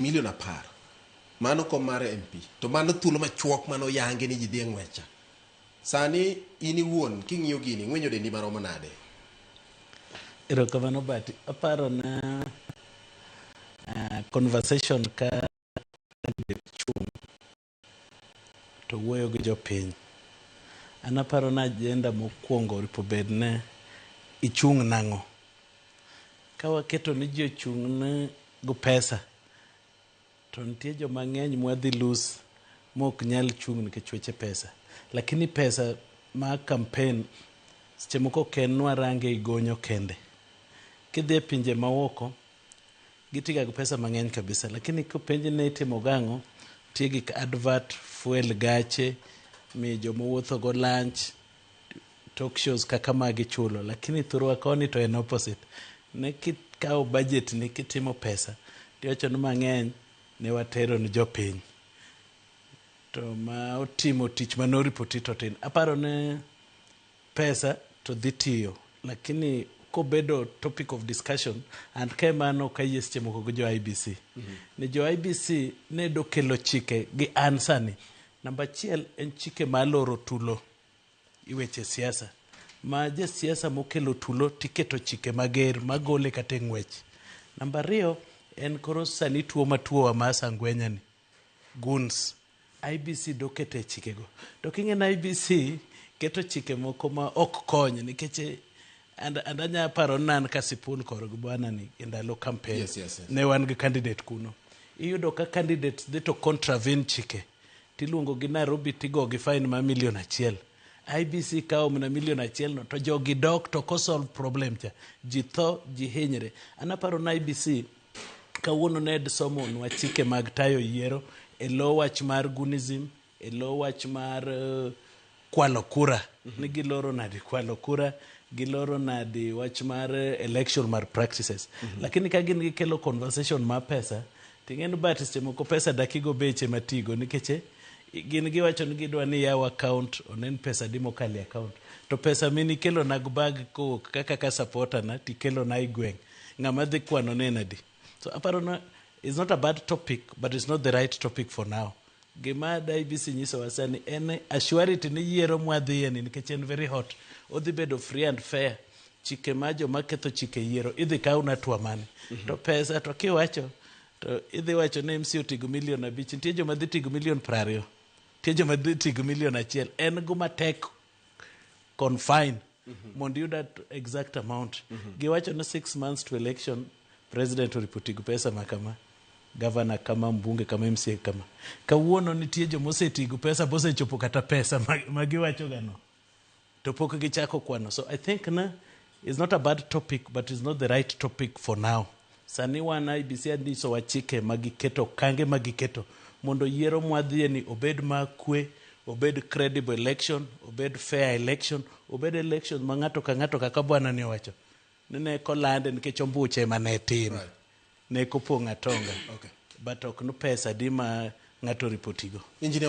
Milion apar. Mano kom mar MP. To mano thuolo machuok mane oyangi ni ji dhi e ng'wecha. Sani in iwuon king'iyo gini ing'wenyo dendi maromo nade? Erokamano but aparo na uh, conversation ka to wuoyo gi jopiny. An aparo ni ajenda mokwongo oripo bed ni ichung' nang'o. Ka waketo ni ji ochung' ni go pesa, to nitie joma ng'eny mwadhi lose mok nyal chung' nikech weche pesa. Lakini pesa ma campaign seche moko ok en ni warange igonyo kende. Kidhi e pinje maoko, Gitiga gi pesa mang'eny kabisa lakini kopenji ni itimo go ang'o, nitie gik advert, fuel gache, miyo joma owuotho go lunch, talk shows kaka magi ichulo lakini thurwa koni to en opposite. Ne kikawo budget ni kitimo pesa tiwacho ni mang'eny ne watero ne jopiny to ma otimo tich mane o repoti to tin. Aparo ne pesa to dhi tiyo lakini kobedo topic of discussion and ka ema an ok ayie seche moko gi jo IBC ni jo IBC ne dokelo chike gi an sani namba achiel en chike ma aloro tulo i weche siasa ma jasiasa mokelo tulo tiketo chike mager magole kata e ng'wech namba ariyo en koro sani tuo matuowa ma sangwenyani Guns. IEBC doketo e chikego. To king'e ni IEBC keto chike moko ma ok kony nikech eh, and, and anya paro ni an ka Sipun kor gi bwana ni e ndalo campaign Yes, yes, yes. ne wan gi candidate kuno. Iyudo ka candidates dhi to contravene chike tiluongo gi Nairobi tigo gi fine ma milion achiel. IBC kawo mana milion achiel no to jogi dok to ko solve problem cha. Ji tho, ji hinyre. An aparo ni IBC Kawuono Ned somonwa chike mag tayo yiero e lo wach mar gunism, e lo wach mar uh, kwalo kura. Mm -hmm. Ni giloro nadi kwalo kura, giloro nadi wach mar eh, election mar practices. Mm -hmm. Lakini ka gin gikelo conversation ma pesa, ting'en bat seche moko pesa dakigo beche matigo nikech eh, gin giwacho ni gidwa ni yaw account onen pesa di mokale account to pesa mini kelo na bag kowuok kaka ka supporter na tikelo na igweng' Ng'ama dhi kwano ne nadi? So aparo na it's not a bad topic but it's not the right topic for now. Gima da IBC nyisowa sani en assurity ni yiero mwadhiye ni nikech en very hot. Odhi bedo free and fair. Chike ma joma ketho chike yiero idhi kaw na twa mane. To pesa to kiwacho to idhi wacho ni MC otigo milion abich. Nitie joma dhi tigo milion prariyo. Nitie joma dhi tigo milion achiel. En guma tek confine mondo iyud at- exact amount giwacho ni six months to election president oripotigo pesa ma kama gavana kama mbunge kama mca kama kawuono nitie joma osetigo pesa bosechopo kata pesa ma- ma giwachogano to pok gichako kwano so i think na It's not a bad topic but it's not the right topic for now. Sani wan IBC andisowa chike ma giketo okange ma giketo mondo yiero mwadhiye ni obed ma kwe, obed credible election, obed fair election, obed election ma ng'ato ka ng'ato kaka bwana ni owacho ni ne kolande nikech ombuche ema ne tim. Right. Ne kopong' atonga. Okay. But ok ni pesa di ma ng'ato oripotigo. Engineer